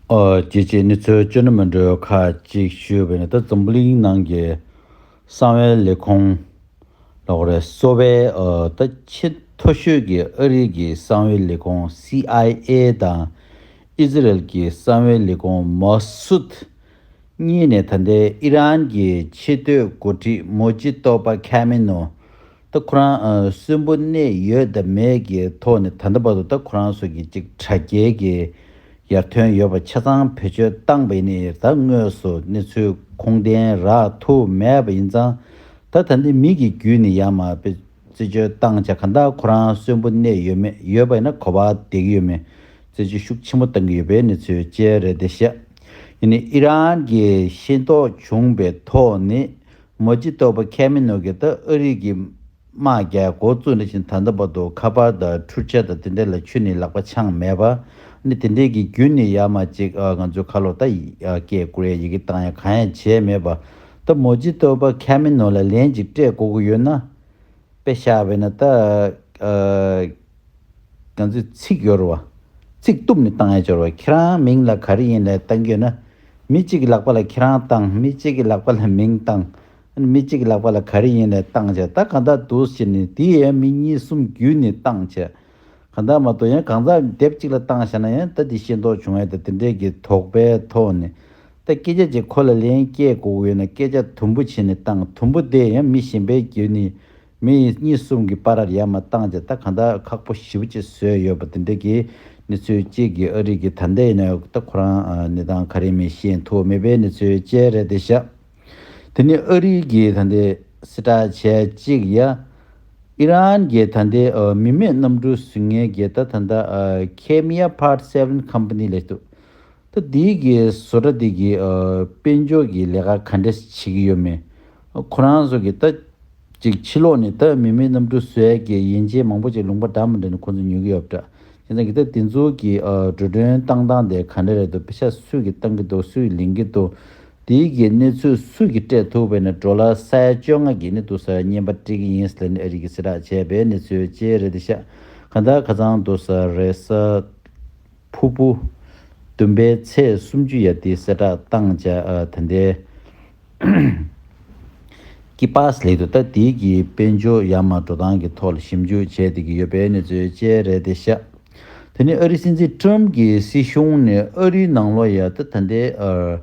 རྒྱལ་སྤྱིའི་གནས་ཚུལ་བཅོས་སྣོན་མི་འདྲ་བ་ཁག་ཅིག་ཞུས་པའི་ནང་དུ་འཛམ་བུ་གླིང་ནང་གི་གསང་བའི་ལས་ཁུངས་ལྷོ་ཀོ་རེ་གསོ་བའི་ད་ཆེས་མཐོ་ཤོས་ཀྱི་ཨ་རིའི་གི་གསང་བའི་ལས་ཁུངས CIA དང་ཨི་ཟི་རལ་གྱི་གསང་བའི་ལས་ཁུངས Mossud གཉིས་ནས་ད་ལྟའི་ཨི་རན་གྱི་ཆེས་མཐོའི་འགོ་ཁྲིད་མོ་ཇི་ཏོ་པ་ཁ་མེ་ནོ་ད་ཁོ་རང་གསོན་པོ་གནས་ཡོད་དང་མེད་ཀྱི་ཐོག་ནས་ད་ལྟ་བར་དུ་ད་ཁོ་རང་སོགས་ཀྱི་ཅིག་དྲ་རྒྱའི་གི་ཡར་ཐོན་ཡོད་པ་ཆ་ཚང་བེད་སྤྱོད་བཏང་པ་ཡིན་ནི་ད་དངོས་སུ་གནས་ཚུལ་ཁུངས་ལྡན་རག་ཐུ་མེད་པ་ཡིན་ཙང་ད་ད་ནི་མིག་གི་བརྒྱུད་ནི་ཡང་མ་བེད་སྤྱོད་བཏང་ཆ་ག་ད་ཁོ་རང་གསོན་པོ་གནས་ཡོད་མེད་ཡོད་པ་ཡིན་ན་གོ་བ་དེ་གི་ཡོད་མེད་བརྩད་གཅོད་ཤུགས་ཆེན་པོ་བཏང་གི་ཡོད་པའི་གནས་ཚུལ་བཅས་རེད་དེ་བཤད་ཡིན་ནི་ཨི་རན་གི་ཤེས་རྟོགས་བྱུང་པའི་ཐོག་ནི་མོ་རྗེ་སྟོབས་པ་ཁལ་མེ་ནོ་གིས་ད་ཨ་རིག་གི་དམག་རྒྱལ་མགོ་བཙུགས་ནས་བཞིན་ད་ལྟ་བར་དུ་ཁ་པར་དང་འཕྲུལ་ཆས་དང་དེ་འདྲས་ལ་ཆུ་ནི་ལག་པ་འཆང་མེད་པ་ནི་དེ་འདྲས་ཀྱི་རྒྱུ་ནི་ཡ་མ་ཅིག་ང་ཚོའི་ཁ་ལོ་ད་སྐད་བསྐུར་ཡ་ཡི་གི་བཏང་ཡ་གང་ཡང་བྱས་མེད་པ་ད་མོ་རྗེ་སྟོབས་པ་ཁལ་མེ་ནོ་ལ་ལན་ཅིག་སྤྲད་དགོ་གི་ཡོད་ན་དཔེ་ཤ་བས་ན་ད་ཨ་རིག་ང་ཚོས་ཚིག་གཡོར་བ། ཚིག་གཏུབ་ནས་བཏང་ཡ་སྦྱོར་བ་ཁྱེད་རང་མིང་ལ་ག་རེ་ཡིན་ལེ་བཏང་གྱོད་ན། མི་གཅིག་གི་ལག་པ་ལ་ཁྱེད་རང་བཏང་མི་གཅིག་གི་ལག་པ་ལ་མིང་བཏང། མི་གཅིག་གི་ལག་པ་ལ་ག་རེ་ཡིན་ལེ་བཏང་བྱས་ད་གང་དག་འདུག་ཟེར་ནས་དེ་ཡང་མི་གཉིས་གསུམ་བརྒྱུད་ནས་བཏང་བྱས། གང་དག་མ་གཏོགས་ཡང་གང་ཟག་སྡེབ་གཅིག་ལ་བཏང་བྱས་ན་ཡང་ད་དེ་ཤེས་མདོག་བྱུང་བས་ད་དེ་འདྲས་ཀྱི་དོགས་པའི་ཐོག་ནས། ད་སྐད་ཆ་གཅིག་ཁོ་ལ་ལན་སྐྱེལ་དགོས་ཀྱི་ཡོད་ན་སྐད་ཆ་དུམ་བུ་བྱས་ནས་བཏང་དུམ་བུ་དེ་ཡང་མི་གཞན་པས་བརྒྱུད་ནས་མི་ཡིས་གཉིས་གསུམ་གྱི་པར་རར་ཡར་མར་བཏང་རྗེས་ད་གང་ལྟར་ཁག་པོ་ཞིབ་ཅིག་བཟོས་ཡོད་པ་དེ་འདྲ་གི་གནས་ཚུལ་གཅིག་གིས་ཨ་རིག་གི་ད་ལྟའི་ནས་ད་ཁོ་རང་གནས་སྟངས་ག་རེ་མི་ཤེས་འདུག་མི་པའི་གནས་ཚུལ་ཅེས་རེད་དེ་ཤག་དེ་ནི་ཨ་རིག་གི་ད་ལྟའི་སྲི་ཏྲ་ཆལ་གཅིག་ཡ། ཨི་རན་གྱི་ད་ལྟའི་མི་མེད་གནམ་གྲུ་ཟིང་ངེ་གི་ད་ད་ལྟ་ཁེ་མི་ཡ་ཕར་སེ་བྷན་ཁམ་པ་ནི་ལེགས་འདུག་ད་འདིའི་གི་བཟོ་གྲ་འདི་གི་དཔལ་འབྱོར་གི་ལས་ཀ་ག་འདྲས་བྱེད་གི་ཡོད་མེད་ཁོ་རང་བཟོ་གི་ད་ཅིག་ཕྱི་ལོག་ནས་ད་མི་མི་གནམ་གྲུ་ཟོས་གི་ཡན་ཆད་མང་པོ་ཅིག་ལུང་པ་འདྲ་མི་འདྲ་ནས་ཁོ་ཚོ་ཉོས་གི་ཡོད་འདྲ་ཁྱེད་རང་གི་ད་འདི་ཚོ་གི་འགྲོ་གྲོན་བཏང་སྟངས་དེ་ག་འདྲ་རེད་འདུག་དཔེ་ཆ་སུས་གི་བཏང་གི་འདུག་སུས་ལེན་གི་འདུག་འདིའི་གི་གནས་ཚུལ་སུས་གི་སྤྲད་ཐུབ་བས་ན་འགྲོ་ལ་ས་ཡ་བཅོ་ལྔ་གི་ནས་འདུག་ས་ཡ་གཉན་པ་སྤྲད་གི་ཡིན་ས་ལེ་ནས་ཨ་རིག་གི་སེ་དྲག་བྱས་པའི་གནས་ཚུལ་བཅས་རེད་འདི་ཤག་ག་འདྲ་ག་ཚང་འདུག་ས་རེད་ས། ཕུར་བུ། བདུན་པའི་ཚེས་སུམ་ཅུ་ཡར་ཏི་སེ་གྲགས་བཏང་བཅའ། དེ་འདས། ཀི་པཱས་ལེགས་འདུག་ད་དེའི་གི་དཔལ་འབྱོར་ཡ་མ་འགྲོ་སྟངས་ཀྱི་ཐོག་ལ་ཞིབ་འཇུག་བྱས་བསྡད་ཀྱི་ཡོད་པའི་གནས་ཚུལ་བཅས་རེད་དེ་ཤ། དེ་ནི་ཨ་རིའི་སྲིད་འཛིན་ཀྲུམ་གྱི་སྲིད་གཞུང་ནས་ཨ་རིའི་ནང་ལོགས་ཡ་ཏི་ད་འདས།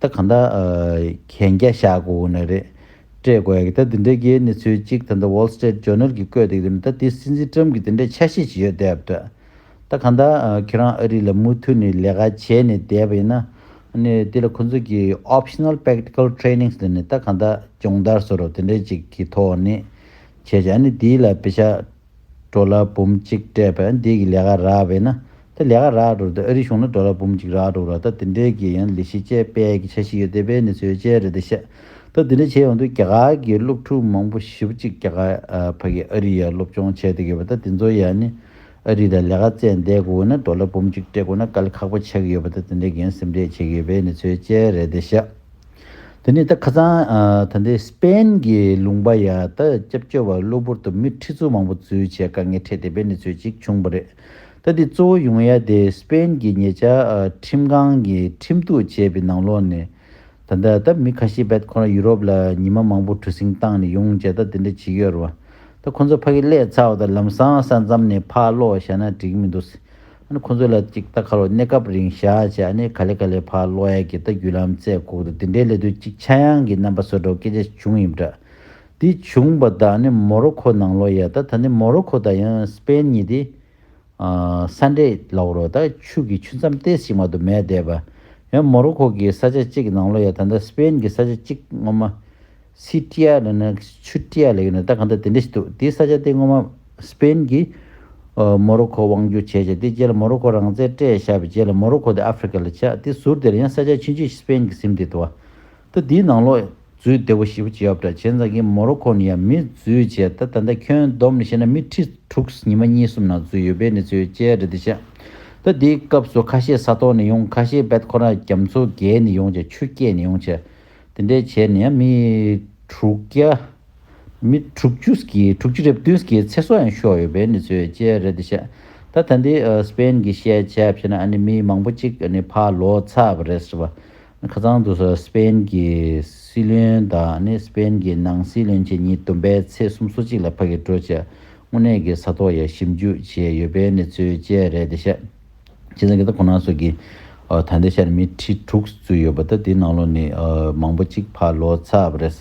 ད་གང་ལྟར་གན་རྒྱ་བཞག་དགོས་དགོས་ནི་རེད། སྤྲད་དགོས་ཡ་གི་ད་འདི་འདྲའི་རྒྱའི་གནས་ཚུལ་གཅིག་ད་ལྟ Wall Street Journal གིས་བཀོད་འདུག་དེ་ནི་ད་དེ་སྲིད་འཛིན Trump གིས་འདི་འདྲའི་ཆ་ཤས་ཅིག་ཡོད་བསྡད་པ་འདྲ། ད་གང་ལྟར་ཁྱེད་རང་ཨ་རི་ལ་མུ་མཐུད་ནས་ལས་ཀ་བྱས་ནས་བསྡད་པ་ཡིན་ན་ནི་དེ་ལ་ཁོ་ཚོ་གིས Optional Practical Trainings ལ་ནི་ད་གང་ལྟར་སྦྱོང་བརྡར་ཟེར་རོ་དེ་འདྲའི་ཅིག་གི་ཐོག་ནས་བྱས་བྱས་ཨ་ནི་དེའི་ལ་བེ་ཤ་འགྲོ་ལ་འབུམ་གཅིག་སྤྲད་པས་འདིས་ཀྱི་ལས་ཀ་རག་བས་ན་དེ་ལས་ཀ་རག་འགྲོ་རེད་ཨ་རིའི་གཞུང་ལ་འགྲོ་ལ་འབུམ་གཅིག་རག་འགྲོ་ར་ད་དེ་འདྲས་ཀྱི་ཡང་ལི་ཤི་ཅེས་དཔལ་གྱི་ཆ་ཞིག་ཡོད་དེ་དཔལ་ནི་ཚོའི་དཔྱལ་རེད་དེ་བཤད་ད་དེ་འདྲས་བྱས་ཡོང་དུས་རྒྱ་གར་གྱི་སློབ་ཕྲུག་མང་པོ་བཞི་བཅུ་གཅིག་རྒྱ་གར་ཕ་གིས་ཨ་རི་ཡར་སློབ་སྦྱོང་བྱས་དེ་གི་བ་ད་དེ་ཚོ་ཡང་ནི་ཨ་རི་ལ་ལས་ཀ་བཙལ་འདས་དགོས་ན་འགྲོ་ལ་འབུམ་གཅིག་སྤྲད་དགོས་ན་དཀའ་ལས་ཁག་པོ་ཆགས་ཀྱི་ཡོད་པ་ད་དེ་འདྲས་ཀྱི་ཡང་སེམས་ཁྲལ་བྱེད་ཀྱི་ཡོད་དཔལ་ནི་ཚོའི་དཔྱལ་རེད་དེ་བཤད། དེ་ནས་ད་ཁ་སང་ད་ལྟའི་སྤ་ན་གི་ལུང་པ་ཡ་ད་སྐྱབས་བཅོལ་བ་གློ་བུར་དུ་མི་ཁྲི་ཚོ་མང་པོ་འཛུལ་བྱས་དཀའ་ངལ་འཕྲད་དེ་པའི་གནས་ཚུལ་ཅིག་བྱུང་བ་རེད། ད་དེ་གཙོ་བོ་ཡོང་ཡ་དེ་སྤ་ན་གི་ཉེ་ཆར་ཁྲིམས་ཁང་གི་ཁྲིམས་གཏུག་བྱས་པའི་ནང་ལོགས་ནས། ད་ལྟ་ད་མི་ཁ་ཤས་བད་ཁོ་རང་ཡུ་རོབ་ལ་ཉི་མ་མང་པོ་གྲུ་གཟིངས་བཏང་ནས་ཡོང་བྱས་ད་དེ་འདྲ་བྱེད་ཀྱི་ཡོད་རེད་བ། ད་ཁོ་ཚོ་ཕ་གི་ཀླད་ཚ་བ་ད་ལམ་སང་ས་མཚམས་ནས་ཕར་ལོག་བཞག་ན་འགྲིག་གི་མི་འདུག། ཨ་ནི་ཁོ་ཚོས་ལ་ཅིག་རྟ་ཁ་ལོ་གནས་སྐབས་རིང་བཞག་བྱས་ཨ་ནི་ག་ལེ་ག་ལེ་ཕག་གློག་གཡས་ཀྱི་རྟ་རྒྱུད་ལམ་རྩེ་བཀོག་འདུག་དེ་འདྲའི་ལས་དུས་གཅིག་ཕྱྭ་གཡང་གི་རྣམ་པ་བཟོ་འགྲོ་སྐད་ཆ་བྱུང་ཡིན་འདྲ། དེ་བྱུང་བ་དག་ཨ་ནི་མོ་རོ་ཁོ་ནང་ལོག་ཡས་ད་ད་ནི་མོ་རོ་ཁོ་དང་ཡང་སི་པན་གཉིས་དེ། ས་འདྲེས་ལོག་རོ་ད་ཆུ་གི་ཆུ་མཚམས་ཏེས་ཞིག་མ་དུ་མས་བསྡད་པ། ཡང་མོ་རོ་ཁོ་གི་ས་ཆ་གཅིག་གི་ནང་ལོག་ཡས་ད་ད་སི་པན་གྱི་ས་ཆ་གཅིག་ངོ་མ། སི་ཏྲི་ཡ་ལ་ནི་ཆུ་ཏྲི་ཡ་ལས་ཡོད་ནི་ད་གང་ལྟར་དེ་འདྲ་ཞིག་འདུག་དེའི་ས་ཆ་དེ་སྔོན་མ Spain གིས་མོ་རོ་ཁོ་དབང་བསྒྱུར་བྱས་ཤིང་དེའི་རྗེས་ལ་མོ་རོ་ཁོ་རང་བཙན་སྤྲད་བཞག་པའི་རྗེས་ལ་མོ་རོ་ཁོ་དེ Africa ལ་ཆགས་དེ་ཟུར་དེར་ཡང་ས་ཆ་ཕྱིན་རྗེས Spain གིས་སིམ་དེ་དུ་བ། ད་དེའི་ནང་ལོགས་འཛུལ་བདེ་བོ་ཞིག་བྱས་ཡོད་པ་འདྲ་བྱས་ཙང་གིས་མོ་རོ་ཁོ་ནི་ཡང་མི་འཛུལ་བྱས་ད་ད་ལྟ་ཁྱོན་བསྡོམས་ནས་བཤད་ན་མི་ཁྲི་དྲུག་ཉི་མ་གཉིས་གསུམ་ནང་འཛུལ་ཡོད་པའི་གནས་ཚུལ་བཅས་རེད་འདུག་ཤག་ད་དེའི་སྐབས་སུ་ཁ་ཤས་ས་ཐོག་ནས་ཡོང་ཁ་ཤས་བལ་ཁོ་རང་རྒྱ་མཚོ་བརྒལ་ནས་ཡོང་བྱ་ཆུ་སྐྱེས་ནས་ཡོང་བྱ། དེ་འདྲའི་བྱས་ནས་ཡང་མི་དྲུག་བརྒྱ། མི་དྲུག་ཅུ་ཀྱི་དྲུག་ཅུ་རེ་བདུན་ཀྱི་ཚེ་སྲོག་ཡང་ཤོར་ཡོད་པའི་གནས་ཚུལ་བཅས་རེད་འདུག་བཤད། ད་ད་འདི་སི་པེན་གྱི་བཤད་བྱ་ཕྱེ་ན་ནི་མི་མང་པོ་གཅིག་ནི་ཕ་ལོ་ཚ་བ་རེད་ཟེར་བ། ཁ་ཚང་དུ་སི་པེན་གྱི་སྲིད་བློན་དང་ནི་སི་པེན་གྱི་ནང་སྲིད་བློན་བཅས་ཉིན་བདུན་པའི་ཚེས་གསུམ་སོ་གཅིག་ལ་ཕ་གི་བྲོ་བྱས་དངོས་གནས་ཀྱི་ས་ཐོག་ཡ་ཞིབ་འཇུག་བྱས་ཡོད་པའི་གནས་ཚུལ་བཅས་རེད་འདུག་བཤད། ཁྱེད་རང་གིས་ད་ཁོ་ན་སོགས་ཀྱི་ད་ལྟའི་ཆར་མི་ཁྲི་དྲུག་བཙུད་ཡོད་པ་ད་དེའི་ནང་ལོགས་ནས་མང་པོ་གཅིག་ཕར་ལོག་ཚར་བ་རེད།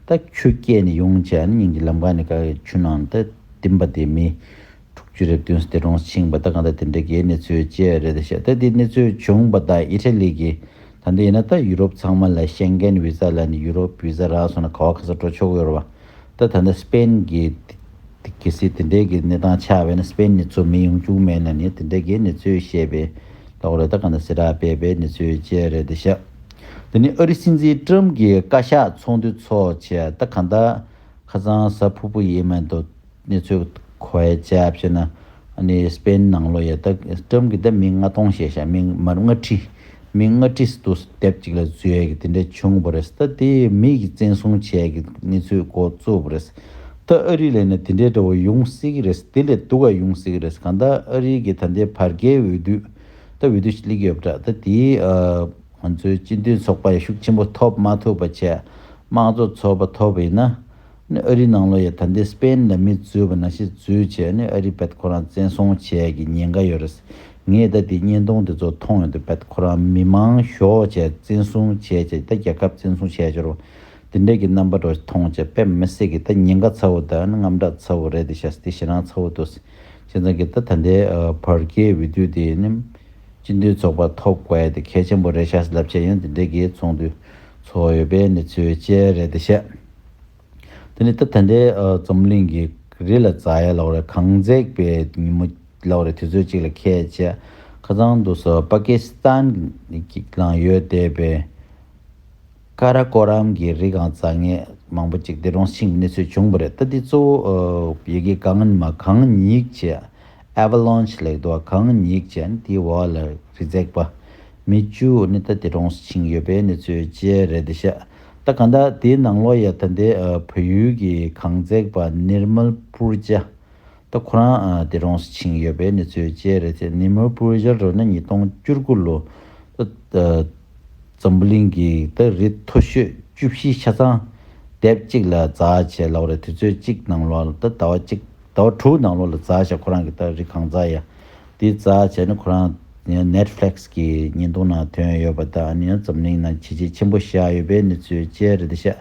ད་ཁྱོད་སྐྱེས་ནས་ཡོང་བྱས་ནས་ཉིན་གྱི་ལམ་ཁ་ནས་ག་གེ་ཆུ་ནང་ད་བསྟིམས་པ་དེ་མི་དྲུག་ཅུ་རེབ་བདུན་སྟེ་རོང་ཕྱིང་བ་ད་གང་ད་དེ་འདྲ་གའི་གནས་ཚུལ་བཅས་རེད་ད་བཤད་ད་དེའི་གནས་ཚུལ་བྱུང་བ་ད་ཨི་ཏྲ་ལི་གི་ད་འདི་ཡིན་ན་ད་ཡུ་རོབ་ཚང་མ་ལ་ཤེང་གེན་བི་ཛ་ལ་ནས་ཡུ་རོབ་བི་ཛ་རག་སོང་ན་ག་བ་ག་ས་འགྲོ་ཆོག་གི་རེད་བ་ད་ད་ད་སྤེན་གྱི་དེ་གལ་སྲིད་དེ་འདྲའི་གི་གནས་སྟངས་ཆགས་པས་ན་སྤེན་ནི་ཚོ་མི་ཡོང་རྒྱུག་མེད་ན་ནི་དེ་འདྲའི་གི་གནས་ཚུལ་བཤད་པའི་ལོག་རེད་ད་ག་འདྲ་སེ་ར་སྤེལ་པའི་གནས་ཚུལ་བཅས་རེད་ད་ཤག་དེ་ནི་ཨ་རི་སྲིད་འཛིན་ཀྲུམ་གི་བཀའ་ཤག་ཚོགས་འདུ་ཚོགས་བྱས་ད་ག་འདྲ་ཁ་ཚང་ཟ་ཕུ་ཕུ་ཡིན་མེད་དོ་གནས་ཚུལ་གོ་བས་བྱས་བྱས་ན་ནི་སྤེན་ནང་ལོ་ཡ་དག་ཀྲམ་གི་དེབ་མིང་ལྔ་སྟོང་ཞེས་བྱ་མིང་དམར་ལྔ་ཁྲི། མིང་ལྔ་ཁྲི་སུ་དུ་དེབ་ཅིག་ལ་བཟོས་ཡས་ཀྱི་དེ་འདྲས་བྱུང་བ་རེད་ད་དེ་ཡས་མིག་གིས་བཙན་བཟུང་བྱས་ཡས་ཀྱི་གནས་ཚུལ་མགོ་བཙུགས་པ་རེད་ད་ཨ་རི་ལས་ནས་དེ་འདྲས་འདྲ་བོ་ཡོང་སྲིད་ཀྱི་རེད་དེ་ལས་སྡུག་ག་ཡོང་སྲིད་ཀྱི་རེད་གང་ལྟར་ཨ་རི་གྱི་ད་འདའི་བར་བརྒལ་འོས་བསྡུད་ད་འོས་བསྡུ་ལེགས་ཡོད་པ་འདྲ་ད་དེ་ང་ཚོའི་སྤྱི་མཐུན་ཚོགས་པ་ཡ་ཤུགས་ཆེན་པོ་ཐོབ་མ་ཐུབ་པ་ཆད་དམངས་གཙོ་ཚོགས་པ་ཐོབ་ཡིན་ན་ཨ་རིའི་ནང་ལོ་ཡ་ད་ལྟའི་སྤེ་ཡན་ལ་མི་རྫུས་པ་ན་ཤི་རྫུས་བྱས་ནས་ཨ་རིའི་བེད་ཁོ་རང་བཙན་སྲོང་བྱས་ཀྱི་ཉེན་ཁ་ཡོད་རེད། ངས་ད་དེའི་བརྙན་ཐུང་དེ་ཚོ་མཐོང་ཡོད་འདུག་བེད་ཁོ་རང་མི་མང་ཞོགས་བྱས་བཙན་བཟུང་བྱས་བྱས་ཀྱི་ད་རྒྱལ་ཁབ་བཙན་བཟུང་བྱས་འབྱོར་བ་དེ་འདྲས་ཀྱི་རྣམ་པ་འགྲོ་མཐོང་བྱས་བེད་མི་སྲིད་ཀྱི་ད་ཉེན་ཁ་ཚ་བོ་དང་རྔམ་སྐྲག་ཚ་བོ་རེད་དེ་ཤ་སྟེ་ཤི་རང་ཚ་བོ་འདུག་བྱས་ཙང་གི་ད་ད་ལྟའི་བར་སྐྱེས་བུ་དུས་དེ་ནི་སྤྱི་འཐུས་ཚོགས་པ་ཐོབ་དགོས་དེ་གལ་ཆེན་པོ་རེད་ཤ་ལབ་བྱས་ཡང་དེ་འདྲས་ཀྱི་ཚོགས་འདུ་ཚོགས་ཡོད་པའི་གནས་ཚུལ་བཅས་རེད་དེ་ཤ། དེ་ནས་ད་ཐེངས་འདིའི་རྩོམ་གླེང་གི་རི་ལ་རྩྭ་ཡལ་ལོག་རེ་གངས་འཛེགས་པའི་ཉིན་མོ་ལོག་རེ་དུས་ཚོད་གཅིག་ལ་ཁད་བཅས་ཁ་ཚང་དུ་སོ་པ་ཀི་སི་ཐན་གི་ནང་ཡོད་བསྡད་པའི་ཀ་ར་ཀོ་རམ་གྱི་རི་གངས་རྩྭ་ངད་མང་པོ་ཅིག་དེ་རུང་ཕྱིན་གྱི་གནས་ཚུལ་བྱུང་བ་རེད་ད་དེའི་གཙོ་བོ་ཡི་གེ་གངས་ཉི་མ་གངས་ཉིག་ཅེས Avalanche ལེགས་འདུག་བ་གངས་ཉིག་ཅེས་ནི་དེའི་འོག་ལ་རི་འཛེགས་པ་མི་བཅུ་ནི་ད་དེ་རུང་ཕྱིན་གྱི་ཡོད་པའི་གནས་ཚུལ་བཅས་རེད་དེ་ཤ་ད་ག་འདྲ་དེའི་ནང་ལོག་ཡ་ད་འདི་བོད་ཡུལ་གྱི་གངས་བརྩེགས་པ Nirmal Purja ད་ཁོ་རང་དེ་རོང་སུ་ཕྱིན་ཡོད་པའི་གནས་ཚུལ་བཅས་རེད་དེ Nirmal Purja རོ་ན་ཉིས་སྟོང་བཅུར་དགུ་ལོ་ད་འཛམ་བུ་གླིང་གི་ད་རི་མཐོ་ཤོས་བཅུ་བཞི་ཆ་ཚང་དེབ་གཅིག་ལ་རྫ་བྱས་ལ་བ་རེད་དུས་ཚོད་གཅིག་ནང་ལོག་ད་ཟླ་བ་གཅིག་ཟླ་བ་དྲུག་ནང་ལོག་ལ་རྫ་བྱས་ཁོ་རང་གི་ད་རི་གངས་རྫ་ཡ་དེ་རྩ་བྱས་ནས་ཁོ་རང Netflix གི་བརྙན་ཐུང་ནང་ཐོན་ཡོད་པ་དང་ཨ་ནེ་ཡང་འཛམ་གླིང་ནང་བྱས་རྗེས་ཆེན་པོ་བཞག་ཡོད་པའི་གནས་ཚུལ་བཅས་རེད་འདུག་ཤག་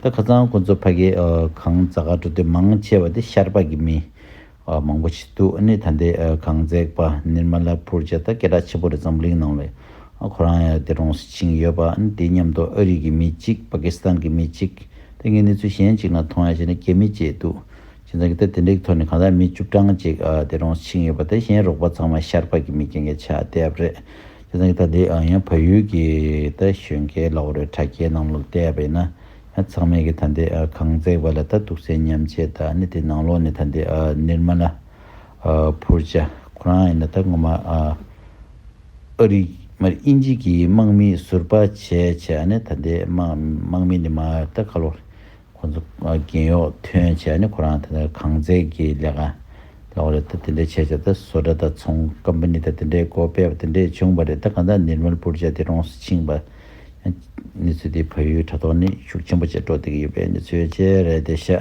ད་ཁ་ཚང་ཁོ་ཚོ་ཕ་གི་གང་རྩ་ག་འགྲོ་དོན་མང་ཆེ་བ་དེ་ཤར་པ་གི་མི་མང་པོ་ཆེ་འདུག་ཨ་ནེ་ད་འདི་གང་འཛེགས་པ Nirmala Purja ད་སྐད་གྲགས་ཆེན་པོ་རེད་འཛམ་གླིང་ནང་ལས་ཁོ་རང་ཡང་དེ་རོང་སི་ཕྱིན་ཡོད་པ་ཨ་ནེ་དེ་མཉམ་དུ་ཨ་རི་གི་མི་གཅིག Pakistan གི་མི་གཅིག་ད་ངས་གནས་ཚུལ་གཞན་གཅིག་ནང་མཐོང་ཡ་བྱས་ན་རྒྱ་མི་བཅས་འདུག་ཁྱེད་ཚང་གི་ལྟ་དེ་འདྲའི་ཐོག་ནས་གང་ཟག་མི་བཅུ་གྲངས་ཅིག་དེ་རུང་ཕྱིན་ཡོད་པ་དེ་གཞན་རོགས་པ་ཚང་མ་ཤར་བག་གི་མི་རྒན་གྱི་ཆ་དེ་ཨབ་རེད། ཁྱེད་ཚང་གི་ལྟ་དེ་ཡང་ཡང་བལ་ཡུལ་གྱི་ལྟ་གཞོན་སྐལ་ལོག་རེད་དྲ་རྒྱའི་ནང་ལོག་ལྟས་པ་ཡིན་ན་ཡང་ཚང་མས་གི་ད་འདི་གངས་བརྩེགས་པ་ལ་ལྟ་འདུག་སའི་མཉམ་ཆས་དག་ནི་དེ་ནང་ལོག་ནས་ད་འདི་ནིར་མ་ལ་ཕུར་བྱ་ཁོ་རང་ཡིན་ན་ད་ངོ་མ་ཨ་རིག་མ་རེད་དབྱིན་ཇི་གི་དམག་མིས་ཟུར་པ་བྱས་བྱས་ཨ་ནི་ད་འདི་དམག་མི་ནི་མ་རེད་ད་ཁ་ལོག་རེད་ཁོ་ཚོ་རྒན་གཡོག་ཐོན་བྱས་ནས་ཁོ་རང་དེ་འདྲ་ཁང་བརྩེགས་ཀྱི་ལས་ཀ་ལས་ཀ་རེད་ད་དེ་འདྲ་བྱས་བྱས་ད་བཟོ་གྲྭ་དང་ཚོང Company དང་དེ་འདྲའི་སྒོ་སྤེལ་བ་དེ་འདྲས་བྱུང་བ་རེད་ད་གང་ལྟར་ནིར་མལ་པུར་བྱས་ཏེ་རོང་སུ་ཕྱིན་པ། གནས་ཚུལ་འདིས་ཕ་ཡུལ་དྲ་ཐོག་ནས་ཤུགས་ཆེན་པོ་ཆེ་སྤྲོ་བསྡད་ཀྱི་ཡོད་པའི་གནས་ཚུལ་བཅས་རེད་དེ་ཤ།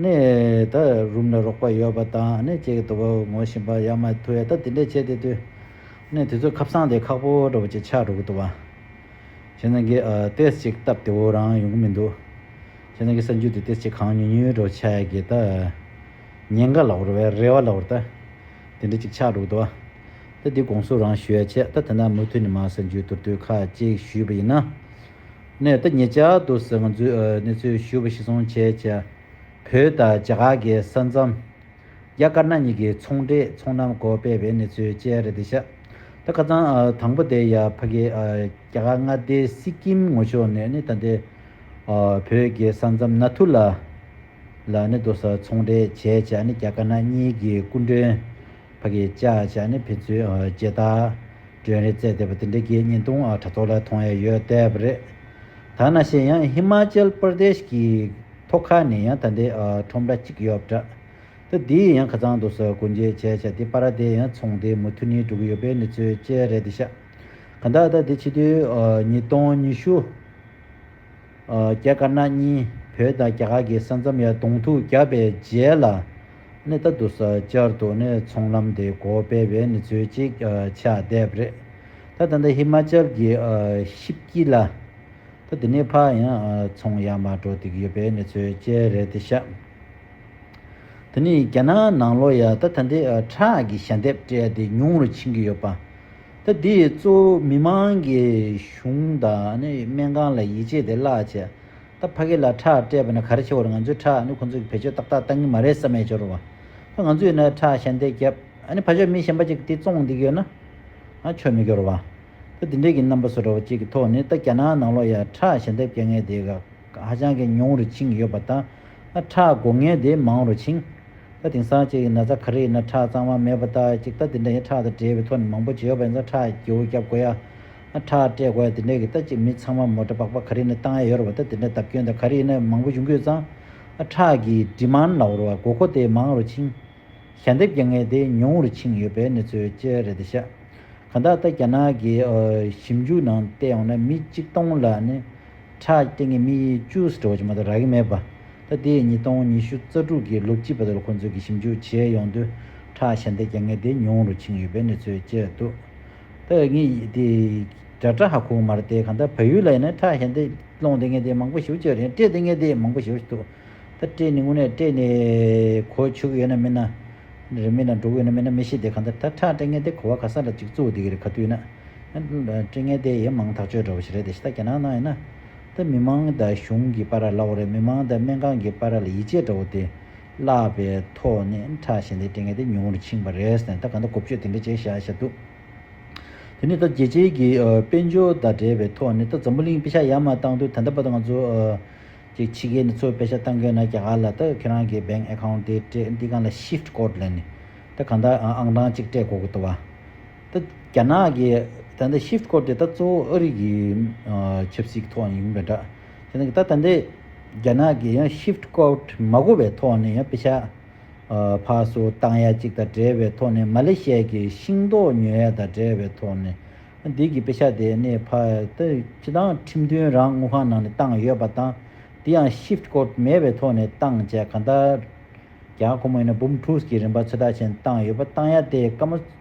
ནས། ད་རུམ་ལ་རོགས་པ་ཡོད་པ་དང་ནས་ཅེས་དོ་བོ་ངོ་བཞིན་པ་ཡ་མ་ཐུ་ཡ་ད་དེ་འདྲས་བྱས་དེ་དུས། ནས་དེ་ཚོ་ཁབ་སངས་དེ་ཁག་པོ་འདྲ་བོ་ཅིག་ཆགས་འགྲོ་གི་དོ་བ། ཁྱེད་རང་གིས་ཏེས་ཅིག་བཏབ་དེ་བོ་རང་ཡོང་གི་མི་འདུག། ཁྱེད་རང་གི་གསར་འགྱུར་དེ་ཏེས་ཅིག་གང་ཉུལ་ཉུལ་འདྲ་བོ་ཆགས་ཡ་གི་ད། ཉེན་ཁ་ལ་བོར་བས་རེ་བ་ལ་བོར་ད། དེ་འདྲས་ཅིག་ཆགས་འགྲོ་གི་དོ་བ། ད་དེ་དགོངས་ཟུར་རང་ཞུ་ཡ་ཆེ་ད་དེ་ན་མུ་མཐུད་ནས་མ་གསར་འགྱུར་དུར་དུས་ཁ་ཅིག་ཞུས་པ་ཡིན་ན། ནས་ད་ཉེ་ཆར་དུ་ཟེར་ང་ཚོས་གནས་ཚུལ་ཞུས་པ་ཞིག་ཟུང་བྱས་བྱས། བོད་དང་རྒྱ་གར་གྱི་ས་མཚམས། རྒྱ་དཀར་ནག་གཉིས་ཀྱི་ཚོང་འབྲེལ་ཚོང་གནམ་སྒོ་སྤེལ་བའི་གནས་ཚུལ་བཅས་རེད་འདི་ཤག་ད་ཁ་ཚང་དང་པོ་དེ་ཡ་ཕ་གི་རྒྱ་གར་མངའ་སྡེ་སི་ཀིམ་ངོ་ཕྱོགས་ནས་ནི་ད་ལྟའི་བོད་ཀྱི་ས་མཚམས་ནཱ་ཐུ་ལ། ལ་ནི་རྡོ་གསར་ཚོང་འབྲེལ་བྱས་བྱས་ནི་རྒྱ་དཀར་ནག་གཉིས་ཀྱི་སྐུ་མགྲོན། ཕ་གི་བཅའ་བཅའ་ནི་ཕེ་ཚུའི་རྗེས་ལྟ། སྒྲོན་རེ་བཙལ་བསྡད་པ་དེ་འདྲའི་རྒྱའི་བརྙན་ཐུང་དྲ་ཐོག་ལ་མཐོང་ཡ་ཡོད་དེབ་རེད། ཐ་ན་ཤེས་ཡང་ཧི་མ་ཅལ་པར་དེཤ་གི་ཐོག་ཁ་ནས་ཡང་ད་འདའི་ཁྲོམ་ར་གཅིག་ཡོད་འདྲ། ད་འདི་ཡི་ཡང་ཁ་ཚང་དུ་སོ་གོ་འཇལ་བྱས་བྱས་དེ་པ་ར་དེ་ཡང་ཚོང་དེ་མུ་མཐུ་ནི་སྒྲུག་གི་ཡོད་པའི་གནས་ཚུལ་བཅས་རེད་དེཤ་ག་འདའ་ད་འདི་ཕྱི་དུས་ཉིས་སྟོང་ཉི་ཤུ། རྒྱ་དཀར་ནག་གཉིས་བོད་དང་རྒྱ་གར་གྱི་ས་མཚམས་ཡར་གདོང་ཐུག་བརྒྱབ་པའི་རྗེས་ལ། ནི་ད་དུ་ས་བཅར་དུ་ནི་ཚོང་ལམ་དེ་གོ་སྤེལ་བའི་ནི་ཚོད་ཅིག་ཆགས་བསྡད་པ་རེད། ད་ད་ལྟ་ཧི་མ་ཅལ་གྱི་ཤིབ་ཀྱིས་ལ། ད་དེ་ནས་ཕ་ཡང་ཚོང་ཡར་མར་འགྲོ་བསྡིགས་ཡོད་པའི་ནི་ཚོད་བཅས་རེད་དེ་ཤག། དེ་ནི་རྒྱ་ནག་ནང་ལོ་ཡར་ད་ད་འདི་ཁྲག་གི་ཞྭ་འདེབས་སྤྲད་དེ་ཉུང་རུ་ཕྱིན་གྱི་ཡོད་པ། ཐ་དེས་གཙོ་བོ་མི་མང་གི་གཞུང་དང་སྨན་ཁང་ལ་ཡིད་ཆེས་དེ་བརླག་བྱས། ད་ཕ་གི་ལ་ཁྲག་སྤྲད་པ་ནི་ག་རེ་ཆེ་བར་ང་ཚོའི་ཁྲག་ཁོ་ཚོས་བེད་སྤྱོད་ཏག་ཏག་གཏང་གི་མ་རེད་བསམ་ཡས་འབྱོར་བ། ད་ང་ཚོས་ནི་ཁྲག་གཞན་དེ་བརྒྱབ། ཕ་ཆོས་མི་གཞན་པ་ཅིག་དེ་བཙོང་བསྡིགས་ཡོད་ན། ང་ཆོས་མི་སྐྱོར་བ། ད་དེ་འདྲས་ཀྱི་རྣམ་པ་བཟོ་འདྲ་བ་ཅིག་གི་ཐོག་ནས་ད་རྒྱ་ནག་ནང་ལོགས་ཡ་ཁྲག་གཞན་དེ་བཀལ་ངེས་དེ་ག། ཧ་ཅང་གི་ཉུང་རུ་ཕྱིན་ཡོད་པ་དང། ཁྲག་འགོ་ངན་དེ་མང་རུ་ཕྱིན། དེང་སང་ཅིག་ན་རྩ་ཁ་རིག་ན་ཁྲག་གཙང་མ་མེད་པ་ལྟར་ཅིག་ལྟ་དེ་འདྲ་ཡིན་ཁྲག་དང་འབྲེལ་བའི་ཐོ་ནི་མང་པོ་བྱེད་ཡོད་པ་ཡིན་ཙང་ཁྲག་སྒྱེའུ་བརྒྱབ་དགོས་ཡ། ཁྲག་སྤྲད་དགོས་ཡ་དེ་འདྲའི་གི་ལྟ་ཅིག་མི་ཚང་མ་མོ་འདྲ་པགས་པ་ཁ་རིག་ནས་བཏང་ཡ་ཡོད་རུ་བ་ལྟ་དེ་འདྲ་བརྡབ་སྐྱོན་དང་ཁ་རིག་ནས་མང་པོ་བྱུང་གི་ཡོད་ཙང། ཁྲག་གི Demand ལ་བོར་བ་དགོས་མཁོ་དེ་མང་རུ་ཕྱིན། ཞལ་འདེབས་རྒྱག་ངེས་དེ་ཉུང་རུ་ཕྱིན་ཡོད་པའི་གནས་ཚུལ་ཅི་རེད་འདི་ཤ། གང་དག་ལྟ་རྒྱ་ནག་གི་ཞིབ་འཇུག་ནང་བལྟས་ཡོང་ན་མི་གཅིག་སྟོང་ལ་ནི་ཁྲག་སྐྱེ་ངན་མི་ཡི་ཅུས་དྲི་བ་ཅི་མ་རྡོ་ར་གི་མེད་པ། ད་ལྟའི་ཉིས་སྟོང་ཉི་ཤུ་རྩ་དྲུག་གི་ལོ་དཀྱིལ་པ་དེར་ཁོང་ཚོས་ཀྱི་ཞིབ་འཇུག་བྱས་ཡོང་དུས་ཁྲག་ཞལ་འདེབས་ཀྱི་ངན་དེ་ཉུང་རུ་ཕྱིན་ཡོད་པའི་གནས་ཚུལ་བཅས་འདུག་ད་ངི་དེའི་དྲ་ཧ་ཁུག་མར་དེ་གང་ལྟར་བལ་ཡུལ་ལ་ཡིན་ན་ཁྲག་ཞལ་འདེབས་སློང་དེ་ངན་དེ་མང་པོ་ཞིག་བཅོས་རེད་སྤྲད་དེ་ངན་དེ་མང་པོ་ཞིག་འདུག་ད་སྤྲད་ནས་དངོས་གནས་སྤྲད་ནས་གོ་ཆུག་ཡོད་ན་མིན་ན་རེད་མིན་ན་འགྲོ་གི་ཡོད་ན་མིན་ན་མི་ཤེས་དེ་གང་ལྟར་ད་ཁྲག་སྤྲད་ངན་དེ་གོ་བ་ག་ས་ལ་ཅིག་བཙུགས་འདུག་གི་རེད་ག་དུས་ན། དྲི་ངན་དེ་ཡི་མང་ཐག་གཅོད་འདྲ་བོ་ཞིག་རེད་དེ་ཤི་ད་རྒྱ་ནག་ནང་ཡིན་ན། ད་མི་མང་ད་གཞུང་གི་པ་ར་བླ་བོ་རེད་མི་མང་ད་སྨན་ཁང་གི་པ་ར་ལ་ཡིད་ཆེས་འདྲ་བོ་དེ་བརླག་པའི་ཐོག་ནས་ཁྲ་བཞིན་དེ་དྲི་ངན་དེ་ཉུང་ངུར་ཕྱིན་པ་རེད་ཟེར་ནས་ད་ག་འདྲ་གོ་བཅོས་དེ་འདྲ་བྱས་བཞག་བཞག་འདུག་དེ་ནས་ད་རྒྱལ་སྤྱིའི་གི་དཔལ་འབྱོར་དང་འབྲེལ་བའི་ཐོག་ནས་ད་འཛམ་བུ་གླིང་དཔེ་ཆ་ཡར་མར་བཏང་དུས་ད་ལྟ་བར་དུ་ང་ཚོ་གི་ཕྱི་རྒྱལ་ནས་འཚོ་བའི་དཔེ་ཆ་བཏང་གི་ཡོད་ན་རྒྱ་གར་ལ་ད་ཁྱེད་རང་གི bank account དེ་སྤྲད་འདི་གང་ལ shift code ལས་ནི་ད་གང་ལྟར་ཨང་གྲངས་གཅིག་སྤྲད་དགོས་གི་འདུག་བ། ད་རྒྱ་ནག་གི་ད་ལྟ Shift སྐོར་དེ་ད་གཙོ་བོ་ཨ་རི་གི་ཆབ་སྲིད་ཐོག་ནས་ཡིན་པ་འདྲ། དེ་ནི་ད་ད་ལྟའི་རྒྱ་ནག་གི་ཡང Shift སྐོར་མ་གོ་བའི་ཐོག་ནས་ཡང་དཔེ་ཆ་ཕག་སོ་བཏང་ཡ་གཅིག་དང་འབྲེལ་བའི་ཐོག་ནས་མ་ལེ་ཤ་ཡ་གི་ཤིང་ཏོག་ཉོས་ཡ་དང་འབྲེལ་བའི་ཐོག་ནས་འདི་གི་དཔེ་ཆ་དེ་ནས་ཕ་ད་ཁྱེད་རང་ཁྲིམས་མཐུན་རང་དངུལ་ཁང་ནང་ནས་བཏང་ཡོད་པ་དང་དེ་ཡང Shift སྐོར་མེད་པའི་ཐོག་ནས་བཏང་བྱས་གང་ལྟར་རྒྱ་ཁོ་མོ་ཡིན་ན་འབུམ་ཕྲུགས་ཀྱི་རིན་པ་ཚོད་དྲག་ཅན་བཏང་ཡོད་པ་བཏང་ཡ་དེ་ཀ་མ།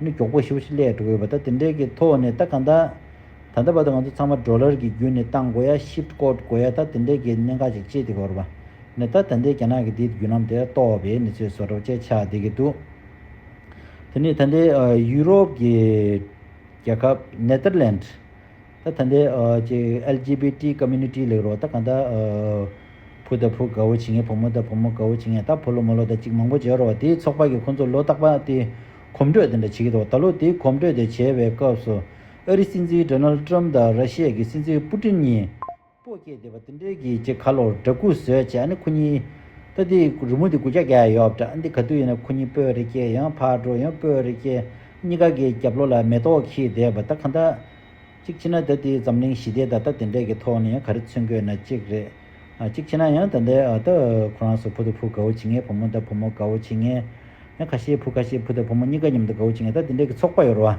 ནི་མགྱོགས་པོ་ཞིབ་ཞིབ་ལས་འགྲོ་དགོས་པ་དང་དེ་འབྲེལ་གྱི་ཐོག་ནས་ད་ག་ད་ད་ལྟ་བར་དུ་ང་ཚོ་ཚང་མ་འགྲོ་ལར་གྱི་རྒྱུ་ནི་བཏང་དགོས་ཡ་ཞིབ་བཀོད་དགོས་ཡ་ད་དེ་འབྲེལ་གྱི་གནད་འགག་ཅིག་སྤྱད་དེ་གོ་རུ་ནི་ད་ད་འདས་རྒྱ་ནག་གི་དེའི་བརྒྱུད་ལམ་དེ་གཏོགས་པའི་ནི་ཚོས་བཟོ་གྲབས་བཅས་ཆགས་བསྡད་ཀྱི་འདུག་དེ་ནི་ད་འདས་ཡུ་རོབ་ཀྱི་རྒྱལ་ཁབ Netherlands ད་ཐ་འདི LGBT Community ལེགས་རོགས་ད་གང་ད་བུ་ད་བུ་དགའ་བོ་བྱེད་ངེས་བུ་མོ་ད་བུ་མོ་དགའ་བོ་བྱེད་ངེས་ད་བུ་ལོ་མོ་ལོ་ད་ཅིག་མང་པོ་བྱེད་རོགས་དེའི་ཚོགས་པ་གི་ཁོང་ཚོ་ལོ་རྟག་པ་དེ་གོམ་བགྲོད་དེ་འདྲ་བྱེད་ཀྱི་འདུག་ད་ལོ་དེའི་གོམ་བགྲོད་དེ་བྱས་པའི་སྐབས་སུ་ཨ་རི་སྲིད་འཛིན Donald Trump དང་ར་ཤི་ཡའི་སྲིད་འཛིན Putin གཉིས་པོ་སྐྱེས་བསྡད་པ་དེ་འདྲའི་གྱི་ཅེས་ཁ་ལོར་སྦྲ་གུ་ཟོས་བྱས་ཨ་ནི་ཁོ་གཉིས། ད་འདི་རི་མོ་འདི་དགུ་བརྒྱ་བརྒྱ་ཡ་ཡོད་བྲ་ཨ་འདི་ག་དུས་ཡིན་ན་ཁོ་གཉིས་སྤོས་རེ་སྐྱེས་ཡང་ཕར་འགྲོ་ཡང་སྤོས་རེ་སྐྱེས། གཉིས་ཀ་གི་རྒྱབ་ལོ་ལ་མེ་ཏོག་འཁྱིལ་བསྡད་པ་ད་ག་འདྲ། གཅིག་ཕྱིན་ན་ད་འདི་འཛམ་གླིང་ཞི་བདེའི་ད་ལྟ་དེ་འདྲའི་གི་ཐོག་ནས་ཡང་ག་རེ་མཚོན་དགོས་ན་གཅིག་རེད། གཅིག་ཕྱིན་ན་ཡང་ད་འདི་ཨ་ད་ཁོ་རང་སོ་བུ་ད་བུ་དགའ་བོ་བྱེད་ངེས་བུ་མོ་ད་བུ་མོ་དགའ་བོ་བྱེད་ངེས། ཡང་ཁ་ཤས་བུ་ཁ་ཤས་བུ་ད་བུ་མོ་གཉིས་ཀ་མཉམ་དུ་དགའ་བོ་བྱེད་ངེས་ད་འདི་འདྲའི་གི་ཚོགས་པ་ཡོད་ར་བ།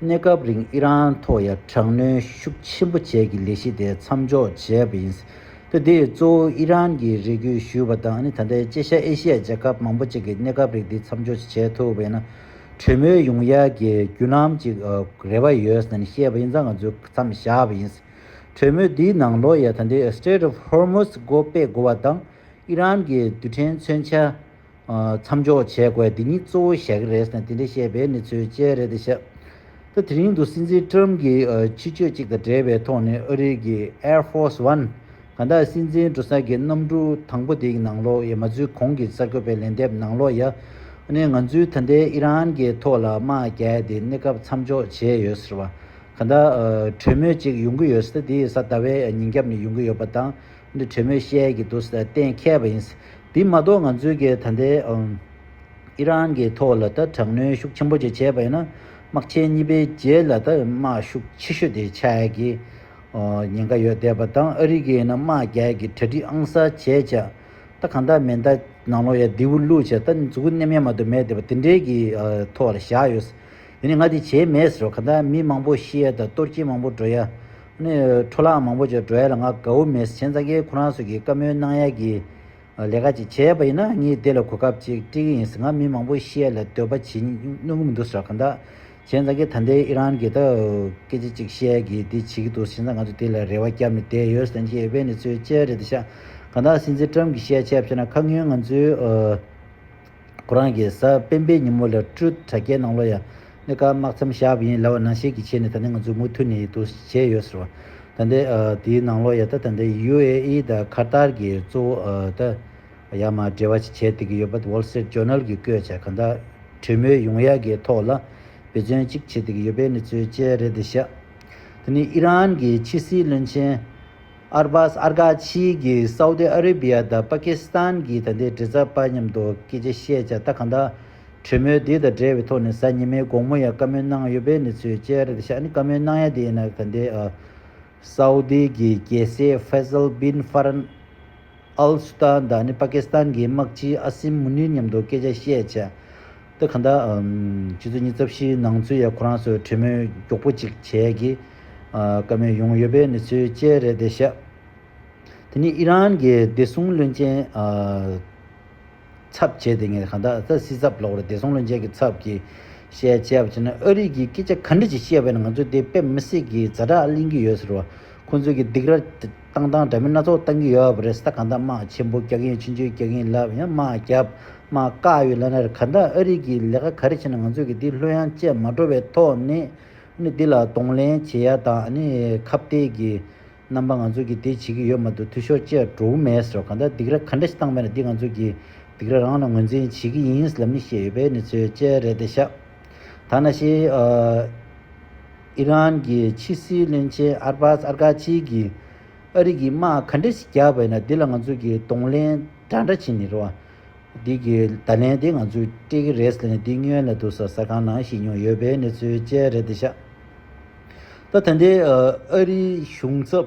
གནས་སྐབས་རིང་ཨི་རན་ཐོག་ཡར་དྲག་གནོན་ཤུགས་ཆེན་པོ་བྱས་ཀྱི་ལས་གཞི་དེ་མཚམས་འཇོག་བྱས་པ་ཡིན། ལྟ་དེས་གཙོ་བོ་ཨི་རན་གྱི་རེ་སྐུལ་ཞུས་པ་དང་ཨ་ནི་ད་ལྟའི་ཅེ་ཤ་ཨེ་ཤི་ཡའི་རྒྱལ་ཁབ་མང་པོ་ཅིག་གིས་གནས་སྐབས་རིགས་འདི་མཚམས་འཇོག་བྱེད་ཐུབ་པ་ཡིན་ན་གྲོས་མོལ་ཡོང་ཡ་གི་བརྒྱུད་ལམ་ཅིག་རེ་བ་ཡོད་ཟེར་ནས་བཤད་པ་ཡིན་ཙང་ང་ཚོས་མཚམས་བཞག་པ་ཡིན། གྲོས་མོལ་དེའི་ནང་ལོ་ཡས་ད་ལྟའི Strait of Hormuz སྒོ་སྤེ་དགོ་བ་དང་ཨི་རན་གྱི་རྡུལ་ཕྲན་མཚོན་ཆ། མཚམས་འཇོག་བྱེད་དགོས་འདི་གཉིས་གཙོ་བོ་ཞག་རེས་ནས་དེ་འདྲ་བཤད་པའི་ནི་ཚོའི་དཔྱད་རེད་དེ་ཤག་ད་དེ་རིང་དུ་སྲིད་འཛིན་ཀྲུམ་གྱི་ཕྱི་བཅོས་གཅིག་དང་འབྲེལ་བའི་ཐོག་ནས་ཨ་རིའི་གི Air Force One གང་དག་སྲིད་འཛིན་འགྲོ་ས་གི་གནམ་གྲུ་དང་པོ་དེ་ཡི་ནང་ལོག་ཡ་མ་ཚུལ་གོང་གི་གསར་འགོད་པའི་ལན་འདེབས་ནང་ལོག་ཡ་ནས་ང་ཚུལ་ད་ལྟའི་ཨི་རན་གི་ཐོག་ལ་དམག་རྒྱལ་དེ་གནས་སྐབས་མཚམས་འཇོག་བྱས་ཡོད་ཟེར་བ་གང་དག་གྲོས་མོལ་གཅིག་ཡོང་གི་ཡོད་ས་དེ་ཡི་ས་ད་བའི་ཉིན་རྒྱབ་ནས་ཡོང་གི་ཡོད་པ་དང། འདི་བྲེ་མོས་བཤད་ཀྱི་འདུག་ཟེར་གཏན་མཁས་པ་ཡིན། དེ་མ་གཏོགས་ང་ཚོའི་གིས་ད་ལྟའི་ཨི་རན་གྱི་ཐོག་ལ་ད་དྲག་གནོན་ཤུགས་ཆེན་པོ་ཅིག་བྱས་པ་ཡིན་ན་དམག་ཆེན་གཉིས་པའི་རྗེས་ལ་ད་དམག་ཤུགས་ཆེ་ཤོས་དེ་ཆགས་ཀྱི་ཉེན་ཁ་ཡོད་བསྡད་པ་དང་ཨ་རི་གིས་ཡིན་ན་དམག་རྒྱག་གི་གྲ་སྒྲིག་ཨང་གསར་བྱས་བྱས། ད་གང་ལྟར་མིན་ད་ནང་ལོགས་ཡ་རྡེའུ་བླུགས་བྱས་ད་མཛུ་གུ་སྣེ་མེད་མ་གཏོགས་མེད་བསྡད་པ་དེ་འདྲའི་གི་ཐོག་ལ་བཞག་ཡོད། དེ་ནི་ང་དེ་བྱས་མེད་ཟེར་བ་ག་འདྲ་མི་མང་པོ་ཤི་ཡ་དང་གཏོར་སྐྱིན་མང་པོ་འགྲོ་ཡ། ནི་འཕྲོ་བརླག་མང་པོ་བྱས་འགྲོ་ཡ་ལ་ང་དགའ་བོ་མེད་ཟེར་གཞན་ཙང་ཁའི་ཁོ་རང་ཚོ་གིས་བཀའ་མོལ་གནང་ཡ་གི། ལས་ཀ་ཅིག་བྱས་ཡ་པ་ཡིན་ན་ངས་དེ་ལ་གོ་སྐབས་ཅིག་སྤྲི་གི་ཡིན་ཟེར་ང་མི་མང་པོ་ཤི་ཡ་ལ་འདོད་པ་བྱེད་ནུས་གི་མི་འདུག་ཟེར་བ་ག་འདྲ། གཞན་ཙང་ཁའི་ད་ལྟའི་ཨི་རན་གི་ད་སྐད་ཅིག་ཅིག་ཤི་ཡ་གི་འདི་བྱེད་ཀྱི་འདུག་ཟེར་ན་ང་ཚོ་དེ་ལ་རེ་བ་བསྐྱབས་ནས་བསྡད་ཡོད་ཟེར་མཁན་ཨི་བན་ནི་ཚོའི་དཔྱད་རེད་འདི་ཤག་ག་འདྲ་སྲིད་འཛིན་ཀྲམ་གྱི་ཤེས་ཡ་ཆེ་བ་ཕྱེ་ན་ཁ་སྔོན་ང་ཚོའི། ཁོ་རང་གི་གཟའ་སྤེན་པའི་ཉིན་མོ་ལ་སྤྲུལ་དྲ་རྒྱའི་ནང་ལོ་ཡ་ནི་ཀརྨ་དམག་མཚམས་ཞབས་ཡིན་ལ་བ་ན་ཞིག་གི་ཆེད་ནས་ད་ནི་ང་ཚོས་མུ་མཐུད་ནས་ཡིད་དུ་བྱས་ཡོད་ཟེར་བ་ད་ནི་དེའི་ནང་ལོ་ཡ་ད་ད་ནི་ཡུ་ཨེ་ཨི་དང་ཁ་ཏར་གྱིས་གཙོ་བོ་ད་ཡ་མ་འབྲེལ་བ་ཞིག་བྱེད་བསྡད་ཀྱི་ཡོད་པ Wall Street Journal གྱིས་བཀོད་ཆ་ག་འདྲ་གྲོས་མོལ་ཡོང་ཡ་གི་ཐོག་ལ་འབད་བརྩོན་ཅིག་བྱེད་བསྡད་ཀྱི་ཡོད་པའི་གནས་ཚུལ་བཅས་རེད་དེ་ཤ་ད་ནི་ཨི་རན་གྱི་ཕྱི་སྲིད་བློན་ཆེན་ཨར་སྦཱས་ཨར་གྷ་ཆི་གིས་སའུ་ཏི་ཨ་རི་བྷི་ཡ་དང་པ་ཀི་སི་ཐན་གྱི་ད་ལྟའི་འབྲེལ་ཚབ་པ་མཉམ་དུ་སྐད་ཆ་བཤད་བྱ་ལྟ་གང་དག་གྲོས་མོལ་དེ་དང་འབྲེལ་བའི་ཐོག་ནས་གཟའ་ཉི་མའི་དགོང་མོ་ཡང་བཀའ་མོལ་གནང་ཡོད་པའི་གནས་ཚུལ་བཅས་རེད་ཤག་ནི་བཀའ་མོལ་གནང་ཡ་དེ་ཡིན་ན་ད་ལྟའི་སའུ་ཏི་གི་རྒྱལ་སྲས་ཧྥེ་ཟལ་བིན་ཧྥ་རན། ཨལ་སུ་ཏཱ་ད་ནི་པ་ཀི་སི་ཐན་གྱི་དམག་སྤྱི་ཨ་སིམ་མུ་ནིར་མཉམ་དུ་སྐད་ཆ་བཤད། ཏེ་གྷ་ཟླ་ཕྱི་ཚུལ་ཉིན་རྩ་བཞིའི་ནང་ཚུད་ཡ་ཁོ་རང་ཚོས་གྲོས་མོལ་མགྱོགས་པོ་གཅིག་བྱས་ཀྱི། བཀའ་མོལ་ཡོང་ཡོད་པའི་གནས་ཚུལ་བཅས་རེད་དེ་བཤད། དེ་ནི་ཨི་རན་གྱི་བདེ་སྲུང་བློན་ཆེན། ཚབ་བྱས་ཏེ་ངས་གྷ་ཟླ་ད་སི་ཚབ་ལོག་རེད་བདེ་སྲུང་བློན་ཆེན་གྱི་ཚབ་ཀྱིས་བཤད་བྱས་པ་བྱས་ན་ཨ་རིས་ཀྱིས་སྐད་ཆ་ག་འདྲ་ཞིག་བཤད་པ་ཡིན་ན་ང་ཚོས་དེ་དཔེ་མི་སྲིད་ཀྱི་ཛ་དྲག་གླེང་གི་ཡོད་ཟེར་བ། ཁོ་ཚོས་ཀྱི་སྡིག་ར། བཏང་བཏང་དྲ་མིན་སྣ་ཚོགས་བཏང་གི་ཡོད་བ་རེད་ས་གང་དག་དམག་ཆེན་པོ་རྒྱག་གིན་ཕྱི་འཇུས་རྒྱག་གིན་ལབ་ཡང་དམག་རྒྱབ་དམག་བཀག་ཡོད་ལབ་ན་རེད་གང་དག་ཨ་རིག་གི་ལས་ཀ་ག་རེ་བྱེད་ན་ང་ཚོས་གི་དེ་ལྷོད་ཡང་བཅད་མ་འགྲོ་བའི་ཐོག་ནས་ནས་དེ་ལ་གདོང་ལེན་བྱེད་ཡ་དང་ཨ་ནི་ཁ་བཏད་གི་རྣམ་པ་ང་ཚོས་གི་དེ་བྱེད་གི་ཡོད་མ་འདུག་འཐུས་ཤོར་བཅད་འགྲོ་འུ་མེད་ཟེར་བ་གང་དག་སྡིག་ར་ག་འདྲ་ཞིག་བཏང་བས་ན་འདི་ང་ཚོས་གི་སྡིག་ར་རང་ལ་ངོས་འཛིན་བྱེད་གི་ཡིན་ལབ་ནི་བཤད་ཡོད་པའི་ནི་ཚོད་བཅད་རེད་དེ་ཤག་ད་ན་ཤེས། ཨི་རན་གྱི་ཕྱི་སྲིད་བློན་ཆེན་ཨར་བྷ་སི་ཨར་གྷ་ཆི་ཡིས་ཨ་རི་གིས་དམག་ག་འདྲ་ཞིག་རྒྱག་པས་ན་དེ་ལ་ང་ཚོས་ཀྱིས་གདོང་ལེན་འདྲ་འདྲ་བྱེད་ནི་རེད། འདི་གི་བརྡ་ལན་དེ་ང་ཚོས་སྤྲད་ཀྱི་རེད་ཟེར་ནས་འདི་སྨྱོན་ལ་འདུག་ས་ཟ་ཁང་ནང་བཤད་མྱོང་ཡོད་པའི་གནས་ཚུལ་བཅས་རེད་འདི་ཤ་སྟག་ད་ལྟའི་ཨ་རིའི་གཞུང་ཚབ་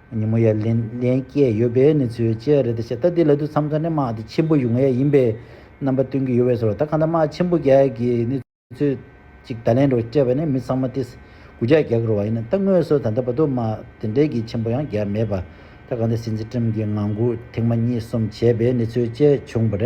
ཉིན་མོ་ཡར་ལེན་ལེན་སྐྱེས་ཡོད་པའི་གནས་ཚུལ་བཅས་རེད་དེ་བཤད་ད་ལྟའི་ལད་དུ་མཚམས་ཁ་ནས་དམག་དེ་ཆེན་པོ་ཡུང་ཡ་ཡིན་པའི་རྣམ་པ་སྟོན་གྱི་ཡོད་བས་སོ་ད་གང་ལྟར་དམག་ཆེན་པོ་བརྒྱད་ཀྱི་གནས་ཚུལ་ཅིག་ད་ལན་རོ་སྤྲད་པ་ནི་མི་ཚང་མ་དེས་གུ་ཅག་རྒྱག་རོགས་ཡིན་ད་དངོས་སུ་ད་ལྟ་བར་དུ་དམག་དེ་འདྲས་ཀྱི་ཆེན་པོ་ཡང་བརྒྱབ་མེད་པ་ད་གང་ལྟར་སྲིད་འཛིན་ཀྲིམ་གྱི་ངང་སྒུག་ཐེངས་མ་གཉིས་གསུམ་བྱས་པའི་གནས་ཚུལ་བཅས་བྱུང་བ་རེད།